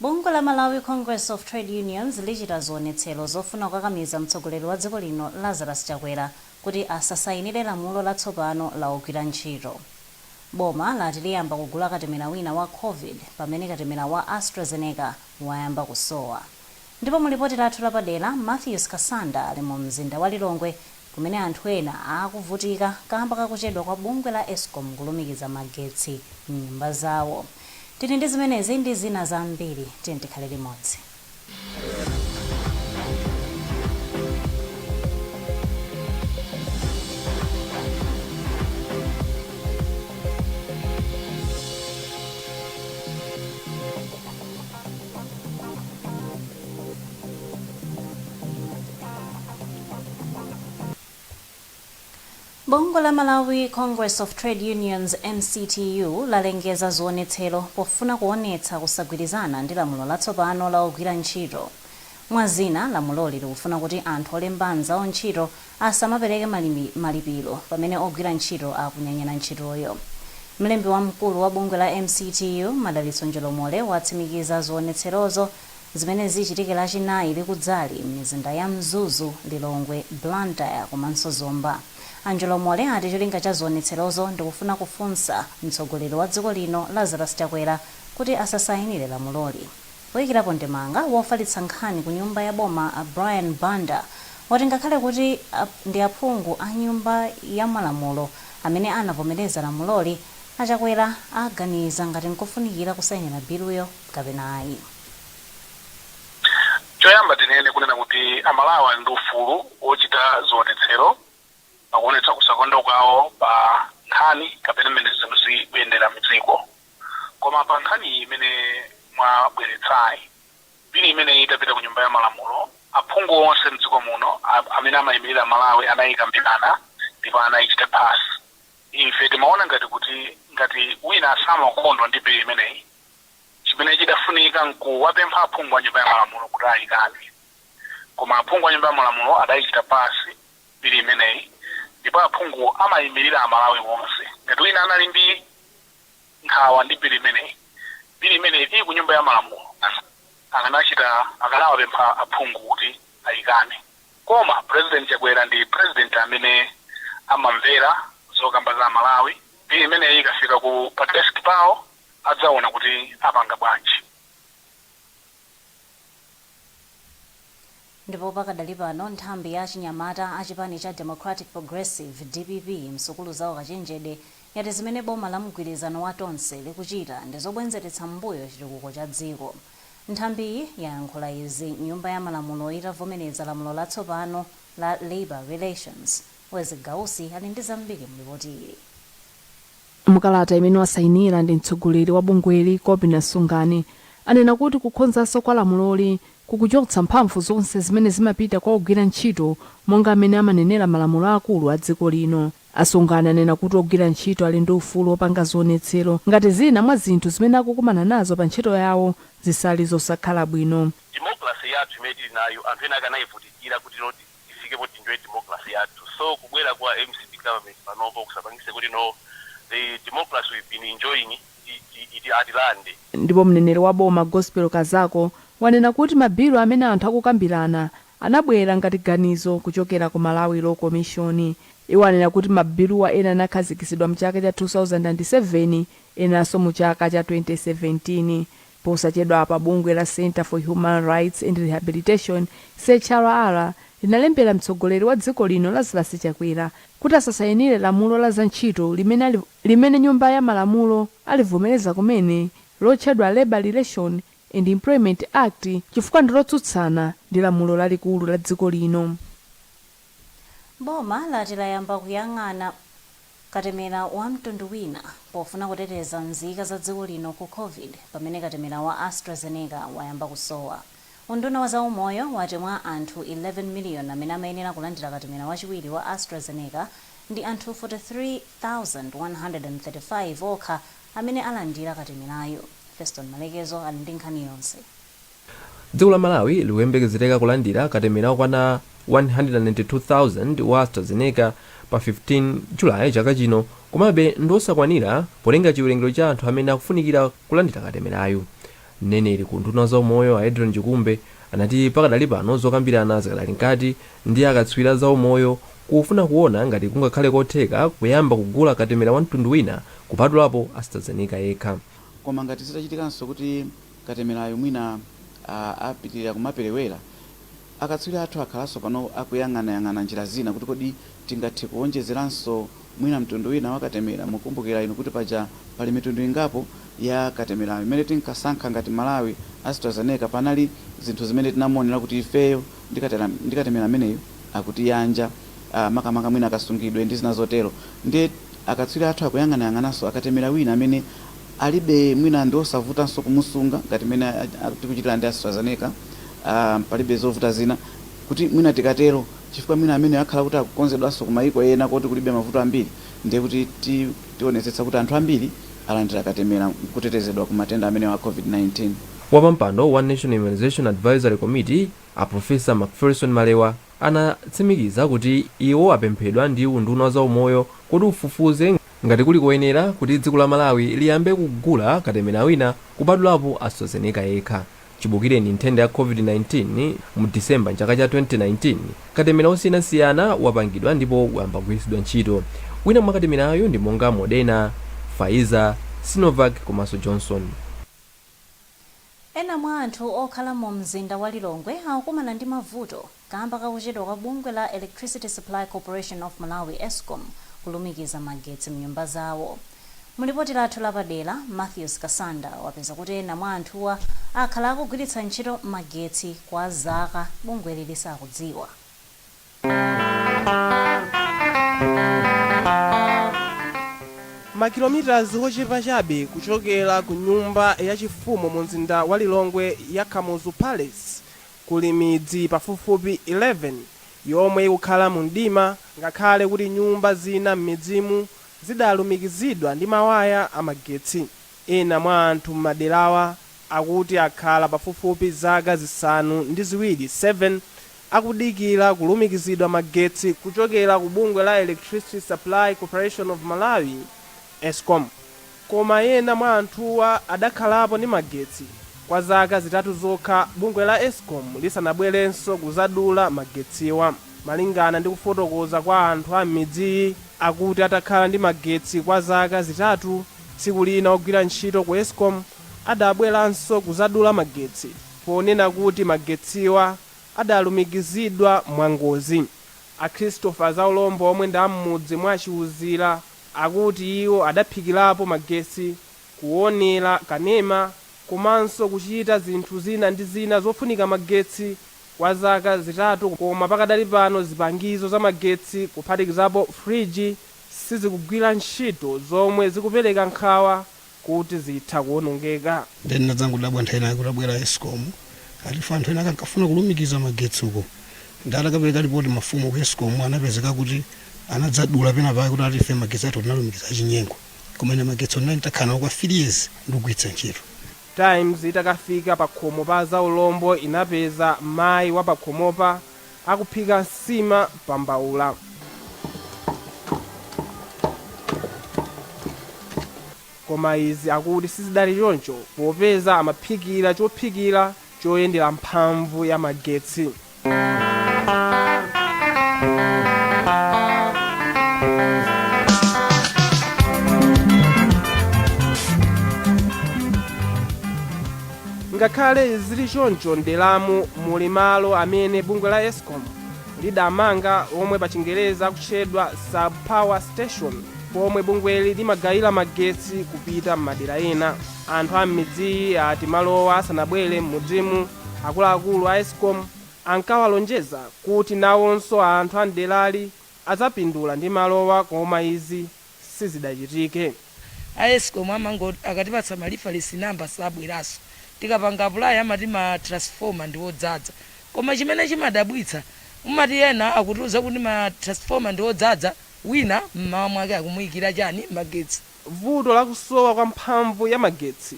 Bungwe la Malawi Congress of Trade Unions lichita zionetsero zofuna kukakamiza mtsogoleri wa dziko lino Lazarus Chakwera kuti asasayinire lamulo la tsopano la ogwira ntchito. Boma lati liyamba kugula katemera wina wa Covid pamene katemera wa AstraZeneca wayamba kusowa. Ndipo mu lipoti lathu lapadera, Matthews Kasanda ali mu mzinda wa Lilongwe kumene anthu ena akuvutika kamba kakuchedwa kwa bungwe la escom kulumikiza magetsi mnyumba zawo. Tili ndi zimenezi ndi zina zambiri, tiyeni tikhale limodzi. Bungwe la Malawi Congress of Trade Unions, MCTU, lalengeza zionetsero pofuna kuonetsa kusagwirizana ndi lamulo latsopano la ogwira ntchito. Mwa zina, lamuloli likufuna kuti anthu olemba anzawo ntchito asamapereke malipiro pamene ogwira ntchito akunyanyala ntchitoyo. Mlembi wamkulu wa bungwe la MCTU, Madalitso Njolomole, watsimikiza zionetserozo. zimene zichitike Lachinayi likudzali m'mizinda ya Mzuzu, Lilongwe, Blantyre komanso Zomba. A Njolomole ati cholinga cha zionetserozo ndi kufuna kufunsa mtsogoleri wa dziko lino Lazarus Chakwera kuti asasainire lamuloli. Poikirapo ndemanga, wofalitsa nkhani ku nyumba ya boma Brian Banda wati ngakhale kuti ndi aphungu a nyumba ya malamulo amene anavomereza lamuloli, a Chakwera aganiza ngati n'kofunikira kusainira biluyo. kapena ayi. Choyamba tinene kunena kuti Amalawi ali ndi ufulu wochita zionetsero pakuonetsa kusakondwa kwawo pa nkhani kapena mmene zinthu zikuyendera mdziko. Koma pa nkhaniyi imene mwabweretsayi, bili imeneyi itapita ku nyumba ya malamulo, aphungu onse mdziko muno amene amaimilira Malawi anayikambirana ndipo anayichita pass. Ife timaona ngati kuti ngati wina samakondwa ndi bili imeneyi, Chimene chidafunika nkuwapempha aphungu a Nyumba ya Malamulo kuti aikane. Koma aphungu a Nyumba ya Malamulo adaichita pass bili imeneyi ndipo aphungu amaimirira Amalawi onse. Ngati wina anali ndi nkhawa ndi bili imeneyi, bili imeneyi ili ku Nyumba ya Malamulo. Akanachita akanawapempha aphungu kuti aikane. Koma Pulezidenti Chakwera ndi Pulezidenti amene amamvera zokamba za Amalawi. Bili imeneyi ikafika ku pa desk pawo adzaona kuti apanga bwanji. Ndipo pakadali pano nthambi ya achinyamata a chipani cha Democratic Progressive, dpp, msukulu za ukachenjede yati zimene boma la mgwirizano wa Tonse likuchita ndi zobwezeretsa m'mbuyo chitukuko cha dziko. Nthambiyi yayankhula izi nyumba ya malamulo itavomereza lamulo latsopano la Labour Relations. Wezzie Gausi ali ndi zambiri mu lipoti ili. Mu kalata imene wasainira ndi mtsogoleri wa bungweli Kobina Sungani, anena kuti kukonzanso kwa lamuloli kukuchotsa mphamvu zonse zimene zimapita kwa ogwira ntchito monga mmene amanenera malamulo aakulu a dziko lino. A Sungani anena kuti ogwira ntchito ali ndi ufulu opanga zionetsero ngati zina mwa zinthu zimene akukumana nazo pa ntchito yawo zili zosakhala bwino. Democracy yathu imene tili nayo anthu ena ake anayivutikira kuti loti. tifike poti tinjoye democracy yathu so kubwera kwa mcp government panopo kusapangise kuti no the democracy we've been enjoying iti iti atilande. Ndipo mneneri wa boma Gospel Kazako wanena kuti mabilu amene anthu akukambirana anabwera ngati ganizo kuchokera ku Malawi Law Commission. Iwo anena kuti mabiluwa ena anakhazikitsidwa mchaka cha 2007 enanso mu chaka cha 2017. Posachedwapa bungwe la Centre for Human Rights and Rehabilitation, CHRR, linalembera mtsogoleri wa dziko lino Lazarus Chakwera kuti asasainire lamulo la za ntchito limene nyumba ya malamulo alivomereza kumene lotchedwa Labour Relations and Employment Act chifukwa ndilotsutsana ndi lamulo lalikulu la dziko lino. Boma lati layamba kuyang'ana katemera wa mtundu wina pofuna kuteteza nzika za dziko lino ku Covid pamene katemera wa AstraZeneca wayamba kusowa. Unduna wa zaumoyo wati mwa anthu 11 miliyoni amene amayenera kulandira katemera wachiwiri wa AstraZeneca, ndi anthu 43,135 okha amene alandira katemerayu. Feston Malekezo ali ndi nkhani yonse. Dziko la Malawi likuyembekezereka kulandira katemera okwana 192,000 wa AstraZeneca pa 15 July chaka chino komabe ndiwosakwanira polinga chiwerengero cha anthu amene akufunikira kulandira katemerayu. Mneneri ku unduna wa zaumoyo a Adrian Chikumbe anati pakadali pano zokambirana zikadali mkati ndi akatswiri a zaumoyo kufuna kuwona ngati kungakhale kotheka kuyamba kugula katemera wa mtundu wina kupatulapo AstraZeneca yekha. Koma ngati zitachitikanso kuti. Katemerayu mwina apitirira kumaperewera, akatswiri athu akhalanso pano akuyang'anayang'ana njira zina kuti kodi tingathe kuwonjezeranso mwina mtundu wina wa katemera. Mukumbukira inu kuti paja pali mitundu ingapo ya katemerayu. Mmene tinkasankha ngati Malawi Astrazeneca panali zinthu zimene tinamuonera kuti ifeyo ndi katera ndi katemera ameneyu akutiyanja a makamaka mwina kasungidwe ndi zina zotero. Ndiye akatswiri athu akuyang'anayang'ananso akatemera wina amene Alibe mwina ndi osavutanso kumusunga ngati mmene tikuchitira ndi AstraZeneca, palibe zovuta zina kuti mwina tikatero chifukwa mwina ameneyo akhala kuti akukonzedwanso ku mayiko ena koti kulibe mavuto ambiri ndiye kuti tionetsetsa kuti anthu ambiri alandira katemera n'kutetezedwa ku matenda amenewa a COVID-19. Wapampando wa National Immunization Advisory Committee, a Professor Macpherson Malewa, anatsimikiza kuti iwo apemphedwa ndi unduna wa zaumoyo kuti ufufuze ngati. Ngati kuli koyenera kuti dziko la Malawi liyambe kugula katemera wina kupatulapo Astrazeneca yekha chibukireni nthenda ya Covid-19 mu December m'chaka cha 2019, katemera wosiyanasiyana wapangidwa ndipo wayamba kugwiritsidwa ntchito. Wina mwa katemerayu ndi monga Moderna, Pfizer, Sinovac komanso Johnson. Ena mwa anthu okhala mu mzinda wa Lilongwe akukumana ndi mavuto kamba ka kuchedwa kwa bungwe la Electricity Supply Corporation of Malawi, escom, kulumikiza magetsi mnyumba zawo. Mu lipoti lathu lapadera, Matthews Kasanda wapeza kuti ena mwa anthuwa akhala akugwiritsa ntchito magetsi kwa zaka bungweli lisakudziwa. Makilomitazi ochepa chabe kuchokera ku nyumba ya chifumu mu mzinda wa Lilongwe ya Kamuzu Palace kuli midzi pafupifupi 11 yomwe ikukhala mu mdima ngakhale kuti nyumba zina m'midzimu zidalumikizidwa ndi mawaya a magetsi. Ena mwa anthu m'maderawa akuti akhala pafupifupi zaka zisanu ndi ziwiri 7 akudikira kulumikizidwa magetsi kuchokera ku bungwe la Electricity Supply Corporation of Malawi, escom, koma ena mwa anthuwa adakhalapo ndi magetsi kwa zaka zitatu zokha bungwe la escom lisanabwerenso kuzadula magetsiwa. Malingana ndi kufotokoza kwa anthu a m'midziyi, akuti atakhala ndi magetsi kwa zaka zitatu, tsiku lina ogwira ntchito ku escom adabweranso kuzadula magetsi ponena kuti magetsiwa adalumikizidwa mwangozi. A Christopher Zaulombo omwe ndi a m'mudzi mwa Chiuzira akuti iwo adaphikirapo magetsi, kuonera kanema komanso kuchita zinthu zina ndi zina zofunika magetsi kwa zaka zitatu koma pakadali pano zipangizo za magetsi kuphatikizapo fridge sizikugwira ntchito zomwe zikupereka nkhawa kuti zitha kuonongeka. Nde ndinadzangodabwa nthawi inayake kutabwera escom ati anthu enaake ankafuna kulumikiza magetsi uko nde atakapereka lipoti mafumu ku escom anapezeka kuti anadzadula penapake kuti ati ife magetsi athu tinalumikiza achinyengo koma ine magetsi ndinali nditakhala nawo kwa 3 years ndikugwiritsa ntchito. Times itakafika pakhomo pa azaulombo inapeza mayi wapakhomopa akuphika nsima pa mbaula. Koma izi akuti sizidali choncho popeza amaphikira chophikira choyendera mphamvu ya magetsi. Ngakhale zili choncho m'deramu muli malo amene bungwe la Escom lidamanga omwe pachingerezi akutchedwa Sub Power Station pomwe bungweli limagayira magetsi kupita m'madera ena. Anthu a m'midziyi ati malowa asanabwere m'mudzimu, akuluakulu a Escom ankawalonjeza kuti nawonso anthu a m'derali adzapindula ndi malowa koma izi sizidachitike. A escom amangoti akatipatsa ma reference number sabweraso. Tikapanga apply amati ma transformer ndiodzadza. Koma chimene chimadabwitsa umati ena akutiuza kuti ma transformer ndiodzadza wina mmawa mwake akumuyikira chani? Magetsi. Vuto la kusowa kwa mphamvu ya magetsi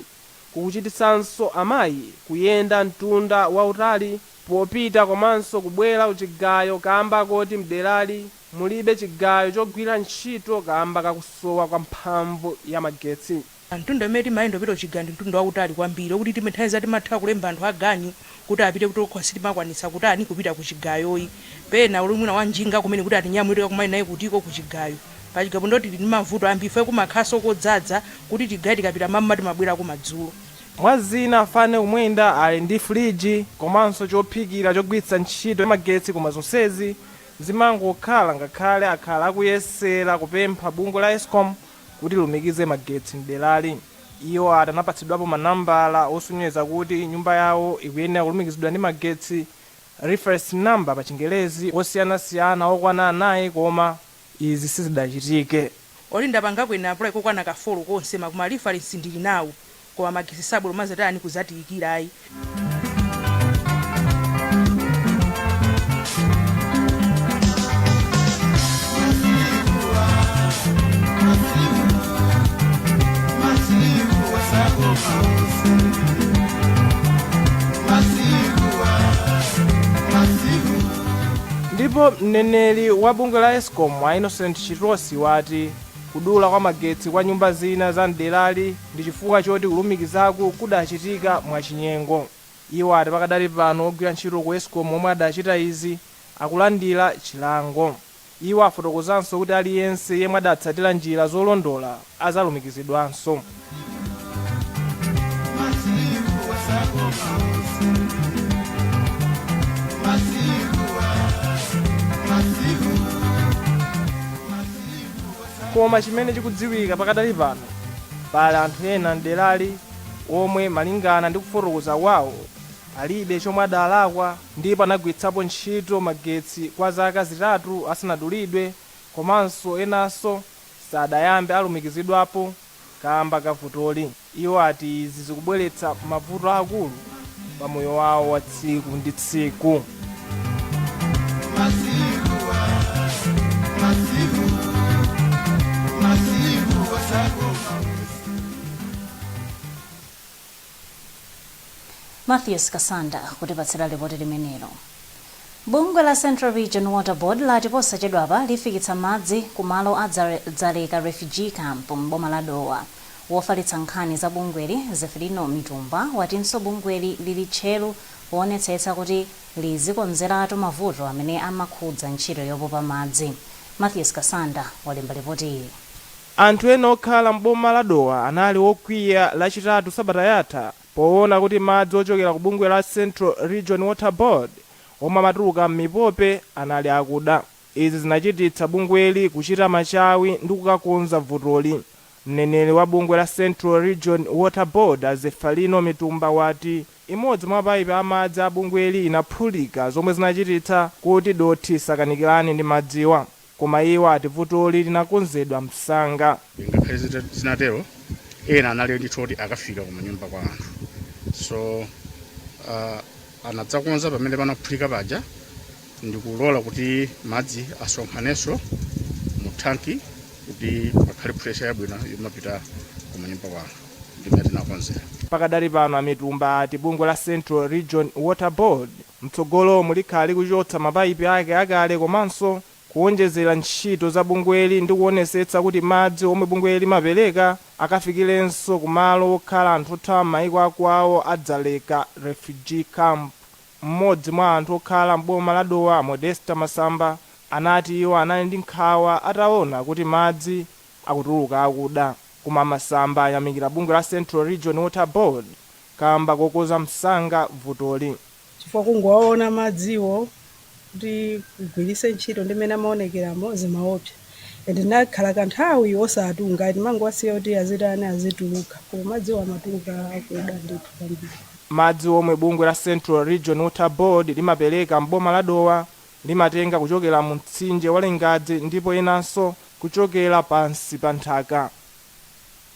kukuchititsanso amayi kuyenda mtunda wautali popita komanso kubwera kuchigayo kamba koti mderali Mulibe chigayo chogwira ntchito kaamba ka kusowa kwa mphamvu ya magetsi. Mtunda umene timayenda kupita kuchigayo ndi mtunda wautali kwambiri okuti time nthawi zina timatha kulemba anthu aganyu kuti apite kuti okha sitimakwanitsa kutani kupita kuchigayoyi pena uli mwina wanjinga kumene kuti atinyamule tikakumane naye kutiko kuchigayo pachigayo pano ndoti tili ndi mavuto ambiri chifukwa kumakhalanso kodzadza kuti tigaye tikapita mmawa timabwerako madzulo. Mwa zina afane kumwenda ali ndi fuliji komanso chophikira chogwiritsa ntchito ya magetsi koma zonsezi zimangokhala ngakhale akhala akuyesera kupempha bungwe la escom kuti lilumikize magetsi mderali iwo ati anapatsidwapo manambala osonyeza kuti nyumba yawo ikuyenera kulumikizidwa ndi magetsi, reference number pa chingerezi, osiyanasiyana okwana anayi koma izi sizidachitike. Kodi ndapangako ine apply kokwana ka 4 konseko ma reference ndili nawo koma magesi sabwera kumazatani kuzatiyikira ayi ndipo mneneri wa bungwe la escom a innocent chitosi wati kudula kwa magetsi kwa nyumba zina za mderali ndi chifukwa choti kulumikizaku kudachitika mwachinyengo. Iwo ati pakadali pano ogwira ntchito ku Escom omwe adachita izi akulandira chilango. Iwo afotokozanso kuti aliyense yemwe adatsatira njira zolondola azalumikizidwanso. Koma chimene chikudziwika pakadali pano, pali anthu ena m'derali omwe malingana ndi kufotokoza kwawo, alibe chomwe adalakwa ndipo anagwiritsapo ntchito magetsi kwa zaka zitatu asanadulidwe komanso enanso sadayambe alumikizidwapo. kaamba ka vutoli. Iwo ati izi zikubweretsa mavuto aakulu pa moyo wawo wa tsiku ndi tsiku. Matthews Kasanda kutipatsira lipoti limenelo. Bungwe la Central Region Water Board lati posachedwapa lifikitsa madzi ku malo a Dzaleka Refugee Camp m'boma la Dowa. Wofalitsa nkhani za bungweli, Zeferino Mitumba watinso bungweli lili tcheru poonetsetsa kuti lizikonzeratu mavuto amene amakhudza ntchito yopopa madzi. Matthews Kasanda walemba lipotili. Anthu ena okhala m'boma la Dowa anali okwiya lachitatu sabata yatha poona kuti madzi ochokera ku bungwe la Central Region Water Board omwe amatuluka m'mipope anali akuda. Izi zinachititsa bungweli kuchita machawi ndi kukakonza vutoli. Mneneri wa bungwe la Central Region Water Board a Zeferino Mitumba wati imodzi mwa mapaipi a madzi a bungweli inaphulika zomwe zinachititsa kuti dothi lisakanikirane ndi madziwa. koma iwo ati vutoli linakonzedwa msanga. Ngakhale zinatero, ena anali ndithu kuti akafika ku manyumba kwa anthu so uh, anadzakonza pamene panaphulika paja ndikulola kuti madzi asonkhanenso mu thanki kuti pakhale pressure yabwino yomapita ku manyumba kwa anthu ndimene tinakonzera. Pakadali pano a Mitumba ati bungwe la Central Region Water Board Mtsogolomu likhala likuchotsa mapaipi ake akale komanso kuonjezera ntchito za bungweli ndi kuonesetsa kuti madzi omwe bungweli limapereka akafikirenso ku malo okhala anthu othawa mmaiko akwawo a Dzaleka Refugee Camp. Mmodzi mwa anthu okhala m'boma la Dowa a Modesta Masamba anati iwo anali ndi nkhawa ataona kuti madzi akutuluka akuda. Koma a Masamba ayamikira bungwe la Central Region Water Board kaamba kokonza msanga vutoli. chifukwa kungowaona madziwo kuti ugwiritse ntchito ndi mmene amaonekeramo zimaopsa and nakhala kanthawi osatunga ndimangowasiya kuti azitani azituluka koma madziwo amatuluka akuda ndithu kwambiri. Madzi omwe bungwe la Central Region Water Board limapereka m'boma la Dowa limatenga kuchokera mu mtsinje wa Lingadzi ndipo enanso kuchokera pansi pa nthaka.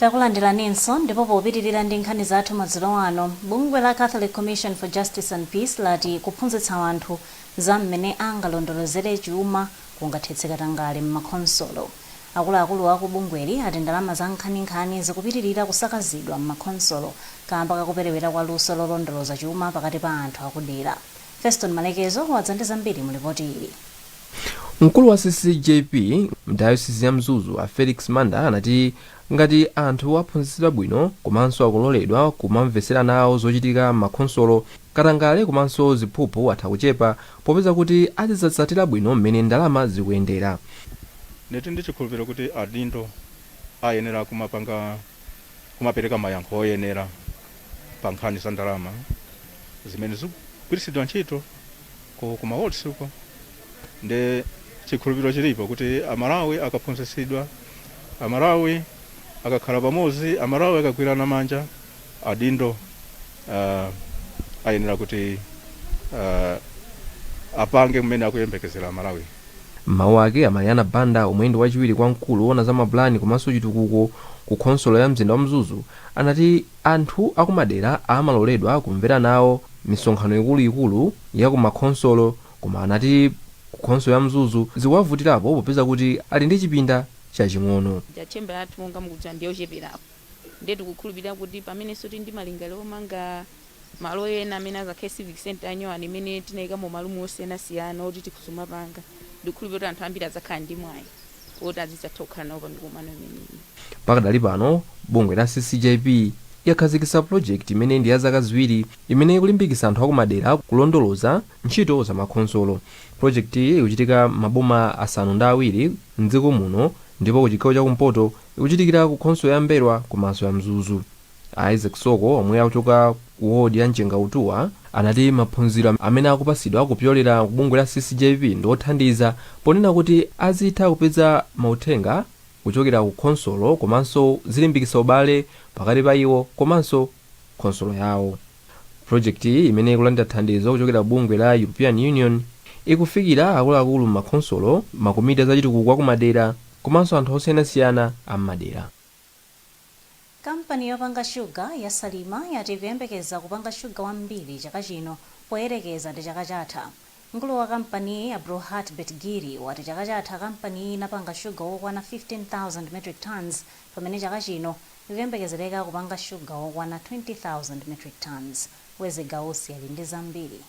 Takulandilaninso ndipo popitilira ndi nkhani zathu madzulo ano, bungwe la Catholic Commission for Justice and Peace lati kuphunzitsa anthu za mmene angalondolozere chuma kungathetse katangale mmakhonsolo. Akuluakulu aku bungweli ati ndalama za nkhaninkhani zikupitilira kusakazidwa mmakhonsolo kaamba kakuperewera kwa luso lolondoloza chuma pakati pa anthu akudera. Feston Malekezo wadza ndi zambiri mu lipoti ili. Mkulu wa ccjp m'dayosisi ya Mzuzu a Felix Manda anati ngati anthu aphunzitsidwa bwino komanso akuloledwa kumamvetsera nawo zochitika m'makhonsolo, katangale komanso ziphuphu atha kuchepa popeza kuti azidzatsatira bwino mmene ndalama zikuyendera. Ndili ndi chikhulupiriro kuti adindo ayenera kumapanga, kumapereka mayankho oyenera. pa nkhani za ndalama zimene zikugwiritsidwa ntchito ku ku mawodi uko nde chikhulupiriro chilipo kuti amalawi akaphunzitsidwa amalawi akakhala pamodzi amalawi akagwirana manja adindo uh, ayenera kuti uh, apange mmene akuyembekezera amalawi M'mawu ake, a Mariana Banda omwe ndi wachiwiri kwa mkulu owona za mapulani komanso chitukuko ku khonsolo ya mzinda wa Mzuzu anati anthu akumadera amaloledwa kumvera nawo misonkhano ikulu ikulu ya ku makhonsolo koma anati ku khonsolo ya Mzuzu zikuwavutirapo popeza kuti ali ndi chipinda chaching'ono. Chamber yathu monga mukudziwa ndiyocheperapo ndiye tikukhulupirira kuti pamenenso tili ndi malingaliro omanga Malo ena amene azakhale civic centre yanyowani imene tidzayikamo malumu osiyanasiyana oti tikhoza kumapanga ndikukhulupira kuti anthu ambiri adzakhala ndi mwayi woti azidzatha kukhala nawo pa mikumano imeneyi. Pakadali pano bungwe la CCJP yakhazikitsa pulojekiti imene ndi ya zaka ziwiri imene ikulimbikitsa anthu akumadera kulondoloza ntchito za makhonsolo. Pulojekitiyi ikuchitika m'maboma asanu ndi awiri m'dziko muno ndipo kuchigawo chakumpoto ikuchitikira ku khonsolo ya M'mbelwa komanso ya Mzuzu. A Isaac Soko omwe akuchoka ku ward ya Mchengautuwa anati maphunziro amene akupatsidwa kupyolera ku bungwe la CCJP ndi othandiza ponena kuti azitha kupeza mauthenga kuchokera ku khonsolo komanso zilimbikitsa ubale pakati pa iwo komanso khonsolo yawo. Pulojekitiyi imene ikulandira thandizo kuchokera bungwe la European Union ikufikira akuluakulu m'makhonsolo, makomiti a zachitukuko akumadera komanso anthu osiyanasiyana a m'madera. Kampani yopanga shuga ya Salima yati ikuyembekeza kupanga shuga wambiri chaka chino poyerekeza ndi chaka chatha. Mkulu wa kampaniyi, Abdulhaq Betgiri, wati chaka chatha kampaniyi inapanga shuga wokwana 15,000 metric tonnes pamene chaka chino ikuyembekezereka kupanga shuga wokwana 20,000 metric tonnes. Wezzie Gausi ali ndi zambiri.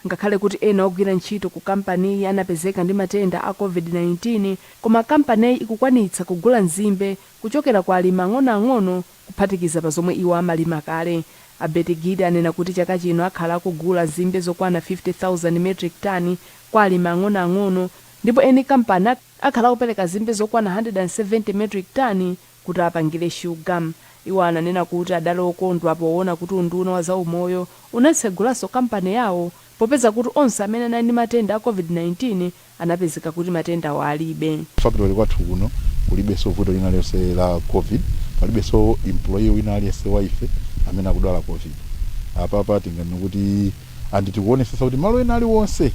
Ngakhale kuti ena ogwira ntchito ku kampaniyi anapezeka ndi matenda a Covid-19, koma kampaniyi ikukwanitsa kugula nzimbe kuchokera kwa alimi ang'onoang'ono kuphatikiza pa zomwe iwo amalima kale. A Betgiri anena kuti chaka chino akhala akugula nzimbe zokwana 50,000 metric ton kwa alimi ang'onoang'ono ndipo eni kampani akhala akupereka nzimbe zokwana 170 metric ton kuti apangire shuga. Iwo ananena kuti adali okondwa poona kuti unduna wa zaumoyo unatsegulanso kampani yawo popeza kuti onse amene anali ndi matenda a Covid-19 anapezeka kuti matendawa alibe. Ku factory kwathu kuno kulibenso vuto lina lililonse la Covid. Palibenso employee wina aliyense wa ife amene akudwala Covid. Apapa tinganene kuti and tikuonesesa kuti malo ena aliwonse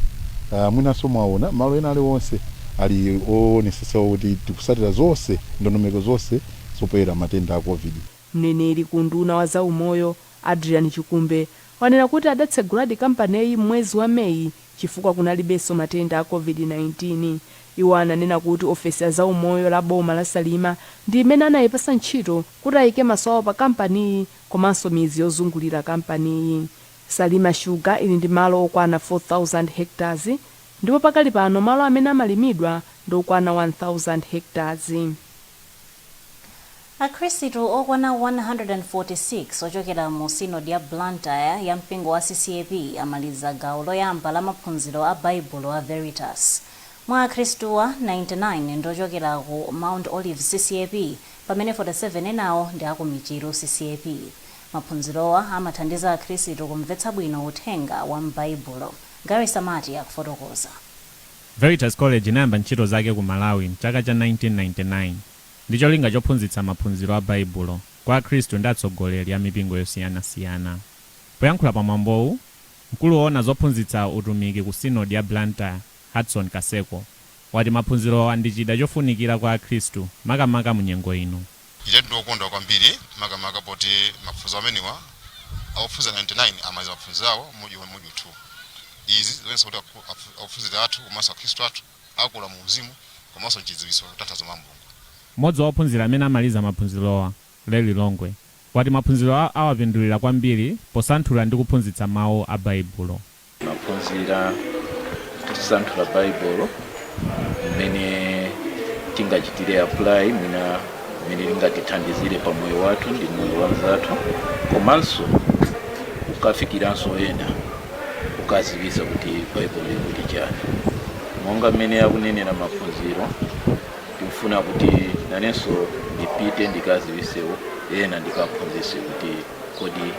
uh, mwinanso mwaona malo ena aliwonse ali oonesesa kuti tikusatira zonse ndondomeko zonse zopewera matenda a covid Mneneri ku unduna wa za umoyo, Adrian Chikumbe, wanena kuti adatseguladi kampaniyi m'mwezi wa May chifukwa kunalibenso matenda a Covid-19. Iwo ananena kuti ofesi ya za umoyo la boma la Salima ndi imene anayipasa ntchito kuti ayike maso awo pa kampaniyi komanso midzi yozungulira kampaniyi. Salima Sugar ili ndi malo okwana 4,000 hectares ndipo pakali pano malo amene amalimidwa ndi okwana 1,000 hectares. Akhrisitu okwana 146 ochokera mu Synod ya Blantyre ya mpingo wa CCAP amaliza gawo loyamba la maphunziro a Baibulo a Veritas. Mwa akhristuwa, 99 ndi ochokera ku Mount Olives CCAP pamene 47 enawo ndi a ku Michiru CCAP. Maphunzirowa amathandiza Akhristu kumvetsa bwino uthenga wa m'Baibulo. Gary Samati akufotokoza. Veritas College inayamba ntchito zake ku Malawi m'chaka cha 1999 ndi cholinga chophunzitsa maphunziro a Baibulo kwa Akhristu ndi atsogoleri a mipingo yosiyanasiyana. Poyankhula pa mwambowu, mkulu woona zophunzitsa utumiki ku Sinodi ya Blantyre, Hudson Kaseko, wati maphunzirowa ndi chida chofunikira kwa Akhristu makamaka mu nyengo ino. Inetu ndi wokondwa kwambiri makamaka poti maphunziro amenewa a ophunzira 99 amaliza maphunziro awo module- module 2. Izi zikuonetsa kuti aku- aphu- ophunzira athu komanso Akhristu athu akula mu uzimu komanso m'chidziwitso kutanthauza mawu a Mulungu. M'modzi wa ophunzira amene amaliza maphunzirowa, Larry Longwe, wati maphunzirowa awapindulira kwambiri posanthula ndi kuphunzitsa mawu a Baibulo. Timaphunzira ndi kusanthula Baibulo mmene tingachitire apply mwina mmene lingatithandizire pa moyo wathu ndi moyo wa mnzathu komanso kukafikiranso ena kukadziwitsa kuti Baibulo likuti chani. Monga mmene akunenera maphunziro ndikufuna kuti nanenso ndipite ndikadziwitseko ena ndikaphunzitse kuti. Kodi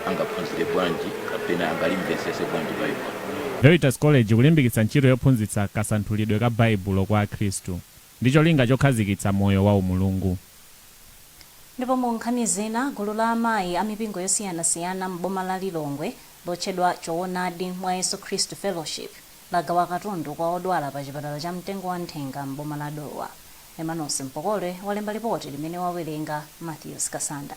angaphunzire bwanji kapena angalimvetsetse bwanji Baibulo? Veritas College ikulimbikitsa ntchito yophunzitsa kasanthulidwe ka Baibulo kwa Akhristu ndi cholinga chokhazikitsa moyo wa umulungu. Ndipo mu nkhani zina, gulu la amayi a mipingo yosiyanasiyana m'boma la Lilongwe lotchedwa Choonadi mwa Yesu Khristu Fellowship lagawa katundu kwa odwala pa chipatala cha Mtengo wa Nthenga m'boma la Dowa. Emmanuel Mpokole walemba lipoti limene wawerenga Matthews Kasanda.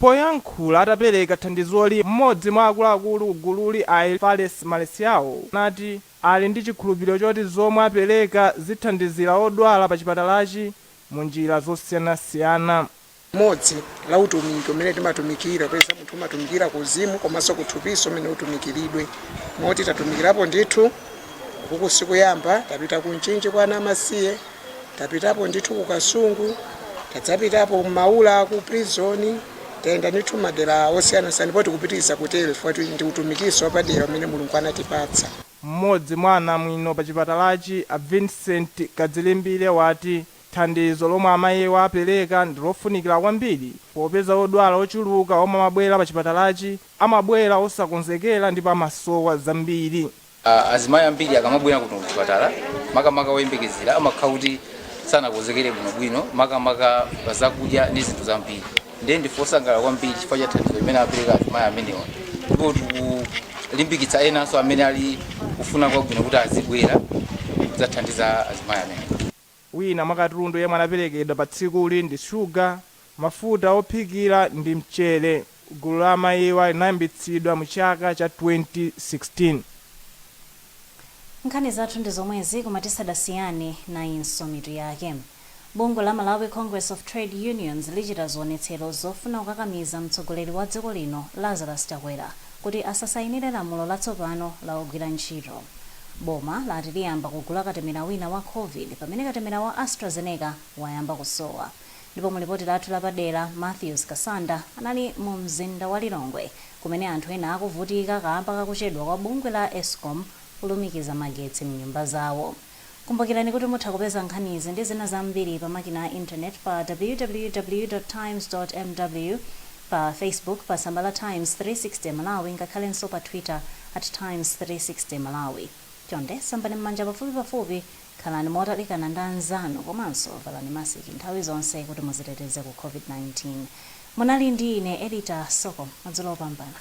Poyankhula atapereka thandizoli, mmodzi mwa akuluakulu ku gululi a Fales Malesiawo anati ali ndi chikhulupiliro choti zomwe apereka zithandizira odwala pa chipatalachi mu njira zosiyanasiyana. Mmodzi la utumiki umene timatumikira popeza munthu umatumikira ku uzimu komanso kuthupi ndi umene utumikilidwe moti tatumikirapo ndithu kukuku sikuyamba tapita ku Mchinji kwa ana amasiye, tapitapo ndithu ku kasungu tadzapitapo maula ku prison tayenda ndithu madera osiyanasiyana ndipo tikupitiriza kutero chifukwa ti- ndi utumikinso wapadera umene mulungu anatipatsa M'modzi mwa anamwino pa chipatalachi a Vincent Kadzilimbire wati thandizo lomwe amayiwa apereka ndi lofunikira kwambiri popeza odwala ochuluka omwe amabwera pa chipatalachi amabwera osakonzekera ndipo amasowa zambiri. Azimayi ambiri akamabwera kuno kuchipatala makamaka oyembekezera amakhala kuti sanakonzekere bwinobwino makamaka pa zakudya ndi zinthu zambiri ndiye ndife osangalala kwambiri chifukwa cha thandizo limene apereka azimayi amenewa ndipo tikulimbikitsa enanso amene ali kufuna kwabwino kuti azibwera kudzathandiza azimayi amenewa. Wina mwa katundu yemwe anaperekedwa pa tsikuli ndi shuga, mafuta ophikira ndi mchere. Gulu la amayiwa linayambitsidwa mu chaka cha 2016. Nkhani zathu ndi zomwezi koma tisadasiyane nayinso mitu yake. Bungwe la Malawi Congress of Trade Unions lichita zionetsero zofuna kukakamiza mtsogoleri wa dziko lino Lazarus Chakwera kuti asasayinire lamulo latsopano la ogwira ntchito. Boma lati liyamba kugula katemera wina wa Covid pamene katemera wa AstraZeneca wayamba kusowa. Ndipo mu lipoti lathu lapadera, Matthews Kasanda anali mu mzinda wa Lilongwe kumene anthu ena akuvutika kaamba kakuchedwa kwa bungwe la Escom kulumikiza magetsi m'nyumba zawo. Kumbukirani kuti mutha kupeza nkhanizi ndi zina zambiri pa makina a internet pa www.times.mw, pa Facebook pa tsamba la Times 360 Malawi ngakhalenso pa Twitter at Times 360 Malawi. Chonde sambani m'manja pafupipafupi, khalani motalikana ndi anzanu komanso valani masiki nthawi zonse kuti muziteteze ku COVID-19. Munali ndi ine Edita Soko. Madzulo opambana.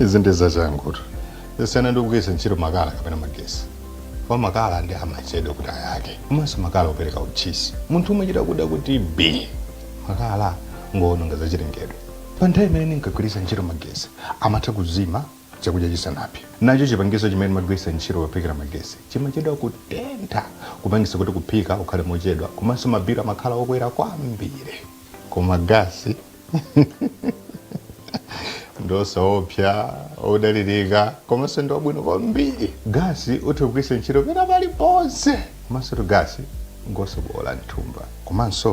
izi ndi zachangutu kusiyana ndi kugwiritsa ntchito makala kapena magesi kwa makala ndi amachedwa kuti ayake komanso makala opereka utchisi munthu umachita kuda kuti bii makala ngoononga zachilengedwe pa nthawi imene ndinkagwiritsa ntchito magesi amatha kuzima chakudya chisanapse nacho chipangizo chimene timagwiritsa ntchito pophikira magesi chimachedwa kutentha kupangisa kuti kuphika kukhale mochedwa komanso mabilu amakhala okwera kwambiri koma gasi ngosaopsya odalirika komanso ndi wabwino kwambiri gasi utha kugwiritsa ntchito pena paliponse komansotu gasi ngosaboola mthumba komanso